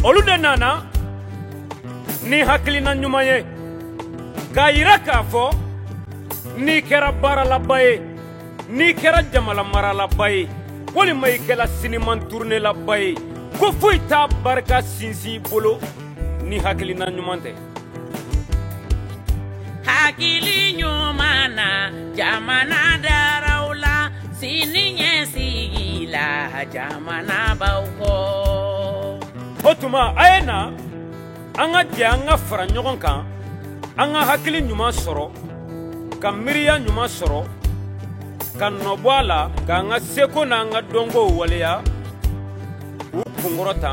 olu de nana ni hakilina ɲuman ye k'a yira k'a fɔ n'i kɛra baaralaba ye n'i kɛra jamana maralaba ye walima i kɛla siniman turunelaba ye ko foyi t'a barika sinsin bolo ni hakilina ɲuman tɛ hakili ɲuman na jamana dara aw la siniɲɛsigi la jamana b'aw kɔ o tuma a ye na an ka jɛ an ka fara ɲɔgɔn kan an ka hakili ɲuman sɔrɔ ka miiriya ɲuman sɔrɔ ka nɔbɔ a la k'an ka seko n'an ka dɔnkow waleya k'u kunkɔrɔta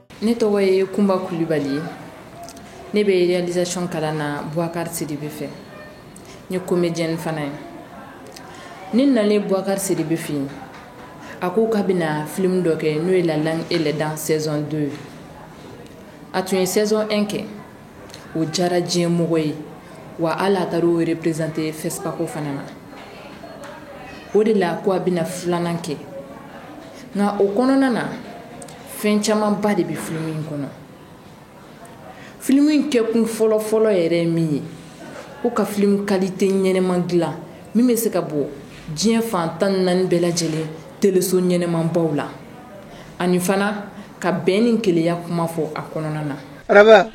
ne tɔgɔ ye kunba kulibali ne bɛ réalisation kalan na buwakari sidibe fɛ n ye comédienne fana ye ne nalen buwakari sidibe fɛ yen a ko k'a bɛna film dɔ kɛ n'o ye la langue et les dents saison 2 a tun ye saison 1 kɛ o diyara diɲɛ mɔgɔ ye wa hali a taara o représenter fespaco fana na o de la ko a bɛna filanan kɛ nka o kɔnɔna na fɛn camanba de bɛ film in kɔnɔ film in kɛ kun fɔlɔfɔlɔ yɛrɛ ye min ye ko ka film qualité ɲɛnɛma dilan min bɛ se ka bɔ diɲɛ fan tan ni naani bɛɛ lajɛlen teleso ɲɛnɛmabaw la ani fana ka bɛn ni kelenya kuma fɔ a kɔnɔna na Araba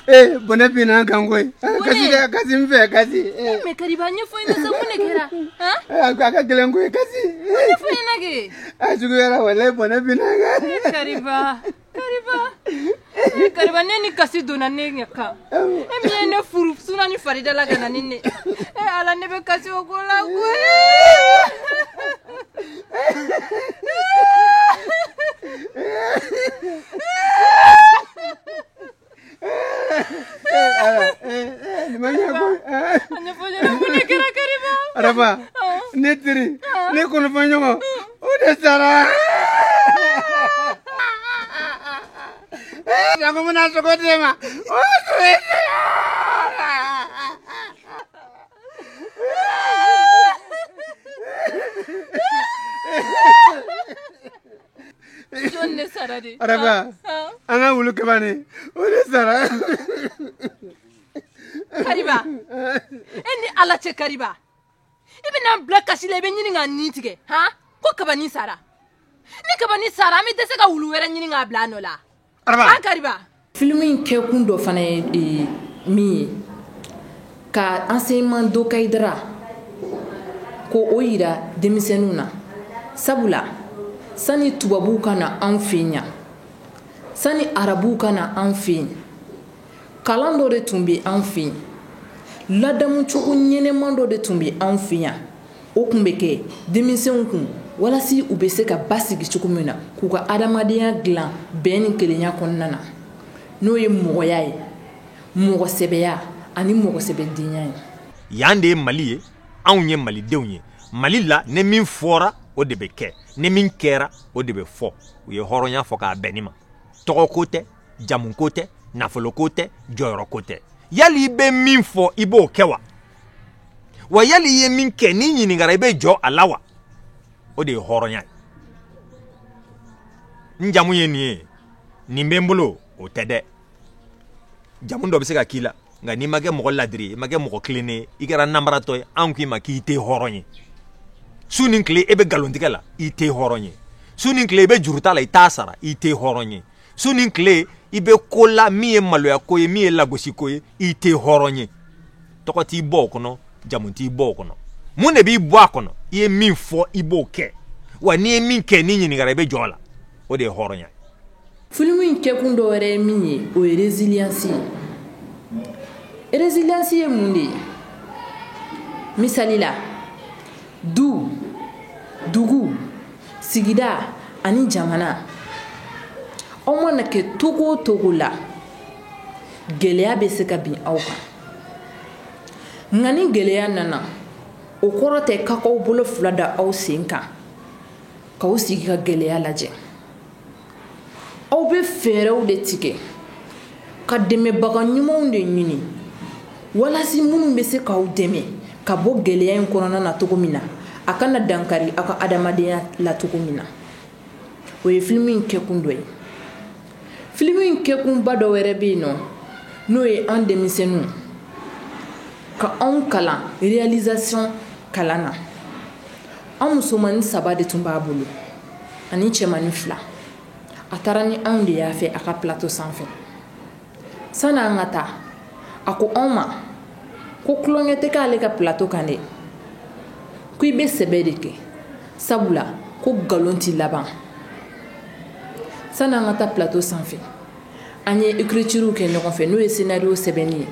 ee bɔnɛ binna an kan koyi kasi n fɛ kasi mais kariba a ɲɛfɔ n ye sa mun de kɛra a ka gɛlɛn koyi kasi juguyara walayi bɔnɛ binna an kan kariba ne ni kasi donna ne ɲɛ kan e min ye ne furu suna ni farida la ka na ni ne ala ne bɛ kasi ko la Araba ne teri ne kɔnɔfɔɲɔgɔn o de sara bɛna sogo di ma Araba an ka wulu kabani o de sara kariba e ni ala cɛ kariba i bɛna n bila kasi la i bɛ ɲini ka nin tigɛ ko kabani sara ni kabani sara an bɛ dɛsɛ ka wulu wɛrɛ ɲini k'a bila nɔ la filimu in kɛkun dɔ fana ye min ye ka enseignement de kaïdara k'o jira denmisɛnninw na sabula sani tubabuw ka na an fɛ yan sani arabuw ka na an fɛ yen kalan dɔ de tun bɛ an fɛ yen ladamucogo ɲɛnama dɔ de tun bɛ an fɛ yan o tun bɛ kɛ denmisɛnw kun walasa u bɛ se ka basigi cogo min na k'u ka adamadenya dilan bɛn ni kelenya kɔnɔna na n'o ye mɔgɔya ye mɔgɔsɛbɛya ani mɔgɔsɛbɛdenya ye yan de ye mali ye anw ye malidenw ye mali la ne min fɔra o de bɛ kɛ ne min kɛra o de bɛ fɔ u ye hɔrɔnya fɔ k'a bɛn nin ma tɔgɔ ko tɛ jamu ko tɛ nafolo ko tɛ jɔyɔrɔ ko tɛ yali i bɛ min fɔ i b'o kɛ wa wa yali i ye min kɛ n'i ɲininkara i bɛ jɔ a la wa o de ye hɔrɔnya ye n jamu ye nin ye nin bɛ n bolo o tɛ dɛ jamu dɔ bɛ se ka k'i la nka n'i ma kɛ mɔgɔ ladiri i ma kɛ mɔgɔ tilennen ye i kɛra nanbaratɔ ye an k'i ma k'i tɛ hɔrɔn ye su ni tile e bɛ nkalontigɛ la i tɛ hɔrɔn ye su ni tile i bɛ juruta la i t'a sara i tɛ hɔrɔn ye su ni tile i bɛ ko la min ye maloya ko ye min ye lagosi ko ye i tɛ hɔrɔn ye tɔgɔ t'i bɔ o kɔnɔ jamu t'i bɔ o kɔnɔ mun de b'i bɔ a kɔnɔ i ye min fɔ i b'o kɛ wa n'i ye min kɛ n'i ɲininkara i bɛ jɔ a la o de ye hɔrɔnya ye filimu in kɛkun dɔ wɛrɛ ye min ye o ye résilience ye résilience ye mun de ye misali la du dugu sigida ani jamana aw mana kɛ cogo o cogo la gɛlɛya bɛ se ka bin aw kan nka ni gɛlɛya nana o kɔrɔ tɛ k'aw k'aw bolo fila da aw sen kan k'aw sigi ka gɛlɛya lajɛ aw bɛ fɛɛrɛw de tigɛ ka dɛmɛbaga ɲumanw de ɲini walasa minnu bɛ se k'aw dɛmɛ ka bɔ gɛlɛya in kɔnɔna na cogo min na a kana dankari aw ka adamadenya la cogo min na o ye filimu in kɛkun dɔ ye filimu in kɛkunba dɔ wɛrɛ bɛ yen nɔ n'o ye an denmisɛnninw ka anw kalan réalisation kalan na an musomannin saba de tun b'a bolo ani cɛmannin fila a taara ni anw de y'a fɛ a ka plateau sanfɛ sani an ka taa a ko anw ma ko tulonkɛ tɛ k'ale ka plateau kan dɛ ko i bɛ sɛbɛ de kɛ sabula ko nkalon tɛ laban sani an ka taa plateau sanfɛ an ye écriturew kɛ ɲɔgɔn fɛ n'o ye scénario sɛbɛnni ye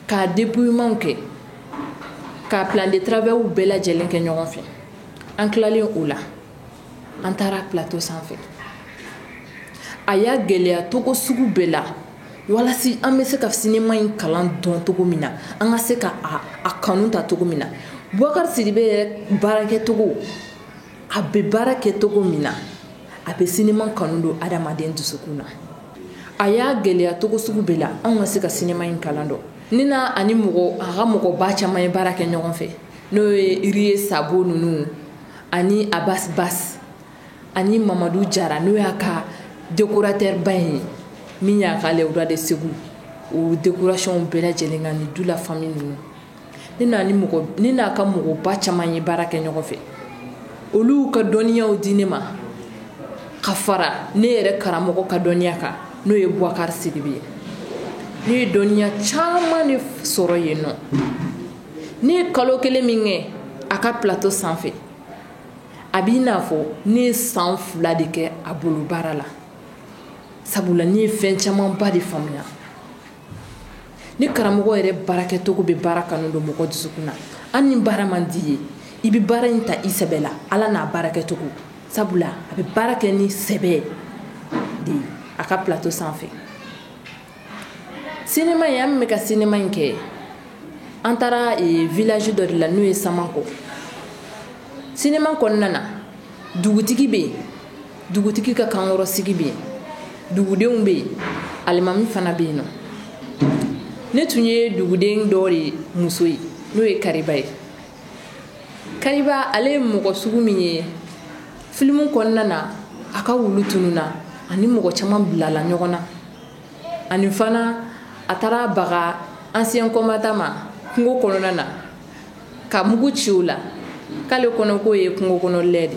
k'a dépouillement kɛ k'a plan de travail bɛɛ lajɛlen kɛ ɲɔgɔn fɛ an tilalen o la an taara plateau sanfɛ a y'a gɛlɛya cogo sugu bɛɛ la walasa an bɛ se ka sinima in kalan dɔn cogo min na an ka se ka a kanu ta cogo min na bubakari sidibe yɛrɛ baarakɛcogo a bɛ baara kɛ cogo min na a bɛ sinima kanu don adamaden dusukun na a y'a gɛlɛya cogo sugu bɛɛ la an ka se ka sinima in kalan dɔn ni na ani mɔgɔ a ka mɔgɔba caman ye baara kɛ ɲɔgɔn fɛ n'o ye riye sabo ninnu ani abasi basi ani mamadu jara n'o y'a ka décorateur ba in ye min y'a ka les rois de segu o décoration bɛɛ lajɛlen kɛ ani dou la famille ninnu ne n'a ka mɔgɔba caman ye baara kɛ ɲɔgɔn fɛ olu ka dɔnniyaw di ne ma ka fara ne yɛrɛ karamɔgɔ ka dɔnniya kan n'o ye bubakari sidibe ye ne ye dɔnniya caman de sɔrɔ yen nɔ ne ye kalo kelen min kɛ a ka plateau sanfɛ a b'i n'a fɔ ne ye san fila de kɛ a bolo baara la sabula ne ye fɛn camanba de faamuya ni karamɔgɔ yɛrɛ baarakɛcogo bɛ baara kanu don mɔgɔ dusukun na hali ni baara man d'i ye i bɛ baara in ta i sɛbɛ la ala n'a baarakɛcogo sabula a bɛ baara kɛ ni sɛbɛ de ye a ka plateau sanfɛ sinima in an bɛ ka sinima in kɛ an taara village dɔ de la n'o ye samanko sinima kɔnɔna na dugutigi bɛ yen dugutigi ka kankɔrɔsigi bɛ yen dugudenw bɛ yen alimami fana bɛ yen nɔ ne tun ye duguden dɔ de muso ye n'o ye kariba ye kariba ale ye mɔgɔ sugu min ye filimu kɔnɔna na a ka wulu tununna a ni mɔgɔ caman bilala ɲɔgɔn na ani fana a taara baga ancien combattant ma kungo kɔnɔna na ka mugu ci o la k'ale kɔnɔ k'o ye kungo kɔnɔ lɛ de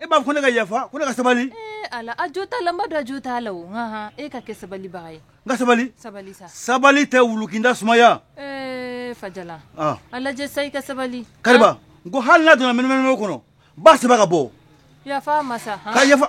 E b'a fɔ ko ne ka yafa ko ne ka sabali ala a jo t'a la n b'a dɔn a jo t'a la o e ka kɛ sabalibaga ye n ka sabali sabali sa sabali tɛ wulukinda sumaya ee fajala a lajɛ sa i ka sabali kariba n ko hali n'a donna mɛnɛmɛnɛwo kɔnɔ n b'a sama ka bɔ yafa a ma sa ka yafa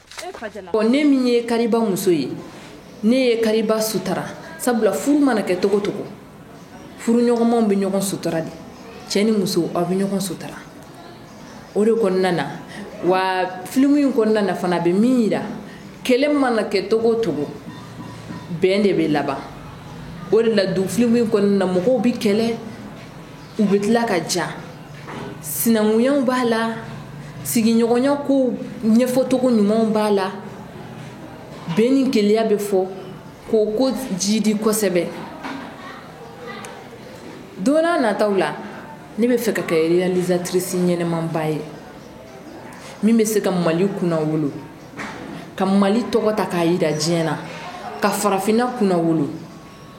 Ne min ye kariba muso ye ne ye kariba sutura sabula furu mana kɛ cogo cogo furuɲɔgɔnmaw bɛ ɲɔgɔn sutura de cɛ ni muso aw bɛ ɲɔgɔn sutura o de kɔnɔna na wa filimu in kɔnɔna na fana a bɛ min jira kɛlɛ mana kɛ cogo cogo bɛn de bɛ laban o de la don filimu in kɔnɔna na mɔgɔw bɛ kɛlɛ u bɛ tila ka ja sinankunyaw b'a la sigiɲɔgɔnya ko ɲɛfɔcogo ɲumanw b'a la bɛn ni kelenya bɛ fɔ k'o ko jidi kosɛbɛ don n'a nataw la ne bɛ fɛ ka kɛ realisatrice ɲɛnamaba ye min bɛ se ka mali kunnawolo ka mali tɔgɔ ta k'a yira diɲɛ na ka farafinna kunnawolo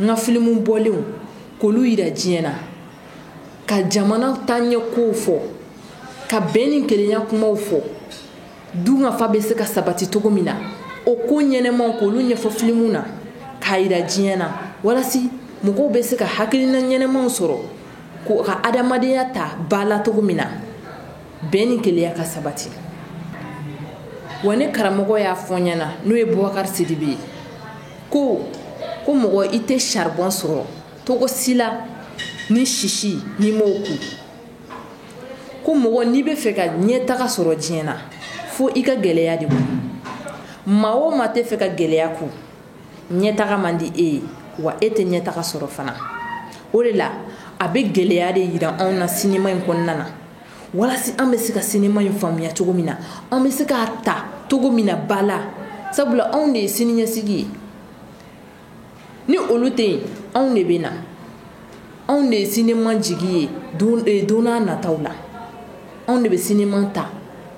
n ka filimu bɔlenw k'olu yira diɲɛ na ka jamana taaɲɛ kow fɔ ka bɛn ni kelenya kumaw fɔ dunkafa bɛ se ka sabati cogo min na o ko ɲɛnamaw k'olu ɲɛfɔ filimu na k'a yira diɲɛ na walasi mɔgɔw bɛ se ka hakilina ɲɛnamaw sɔrɔ k'u ka adamadenya ta ba la cogo min na bɛn ni kelenya ka sabati wa ne karamɔgɔ y'a fɔ n ɲɛna n'o ye bubakari sidibe ye ko ko mɔgɔ i tɛ saribɔn sɔrɔ cogo si la ni sisi n'i m'o kun ko mɔgɔ n'i bɛ fɛ ka ɲɛtaga sɔrɔ diɲɛ na fo i ka gɛlɛya de kun maa o maa tɛ fɛ ka gɛlɛya kun ɲɛtaga man di e ye wa e tɛ ɲɛtaga sɔrɔ fana o de la a bɛ gɛlɛya de yira anw na sinima in kɔnɔna na Walasi an bɛ se ka sinima in faamuya cogo min na an bɛ se k'a ta cogo min na ba la sabula anw de ye siniɲɛsigi ye ni olu tɛ yen anw de bɛ na anw de ye sinima jigi ye don nataw la anw de bɛ sinima ta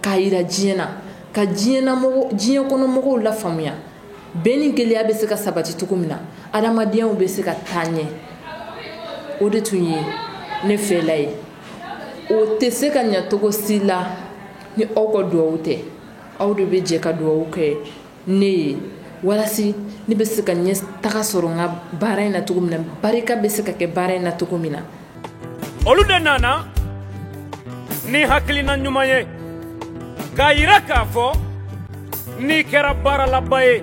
k'a yira diɲɛ na ka diɲɛ kɔnɔ mɔgɔw lafaamuya bɛn ni kelenya bɛ se ka sabati cogo min na adamadenyaw bɛ se ka taa ɲɛ o de tun ye ne fɛla ye o tɛ se ka ɲɛ cogo si la ni aw ka dugawu tɛ aw de bɛ jɛ ka dugawu kɛ ne ye walasi ne bɛ se ka ɲɛtaga sɔrɔ n ka baara in na cogo min na barika bɛ se ka kɛ baara in na cogo min na olu de nana ni hakilina ɲuman ye k'a yira k'a fɔ n'i kɛra baaralaba ye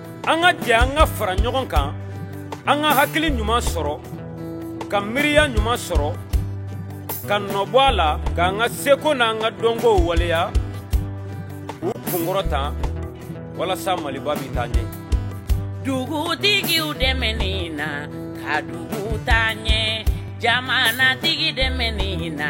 an ka jɛ an ka fara ɲɔgɔn kan an ka hakili ɲuman sɔrɔ ka miiriya ɲuman sɔrɔ ka nɔbɔ a la k'an ka seko n'an ka dɔnkow waleya k'u kunkɔrɔta walasa maliba bɛ taa ɲɛ dugutigiw dɛmɛni na ka dugu taa ɲɛ jamanatigi dɛmɛni na